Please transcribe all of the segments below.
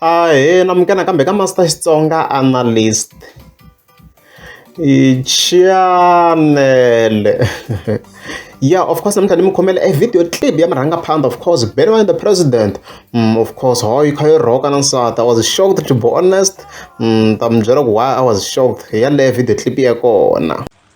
Ahee, namukela nakambe ka Master Xitsonga Analyst. Channel. yeah, of course, namuntlha ni mi khomela a video clip ya murhangaphandha, of course, better than the president. Mm, of course, how you can rock and answer. I was shocked to be honest. Mm, ta mi byela ku why I was shocked. Yaleyo video clip ya kona.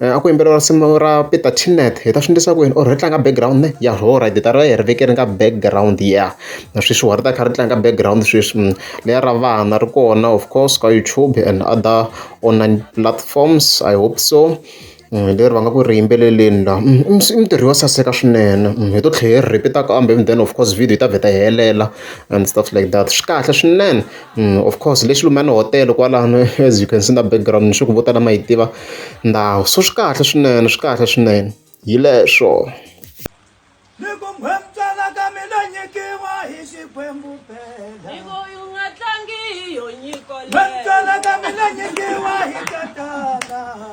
A ku yimbeleriwa risimu ra Peter Teeneth hi ta swi endlisa ku yini or ri tlanga background ne ya ho rhayiti hi ta va hi ri vekele ka background ya na sweswi wa ri ta kha ri tlanga background sweswi leri ra vana ri kona of course ka YouTube and other online platforms I hope so leri va nga ku ri yimbeleleni la i mintirho yo saseka swinene hi to tlhela hi ri repeat-a kambe then of course video yi ta vheta yi helela and stuff like that swi kahle swinene. of course le xilumani hotel kwalano as you can see na background ni sure ku vo tala ma yi tiva ndhawu so swi kahle swinene swi kahle swinene hi leswo ni ku nghwemtsala ka mina nyikiwa hi xikwembu phela u nga tlangi hi yo nyiko nghwemtsala ka mina nyikiwa hi tatana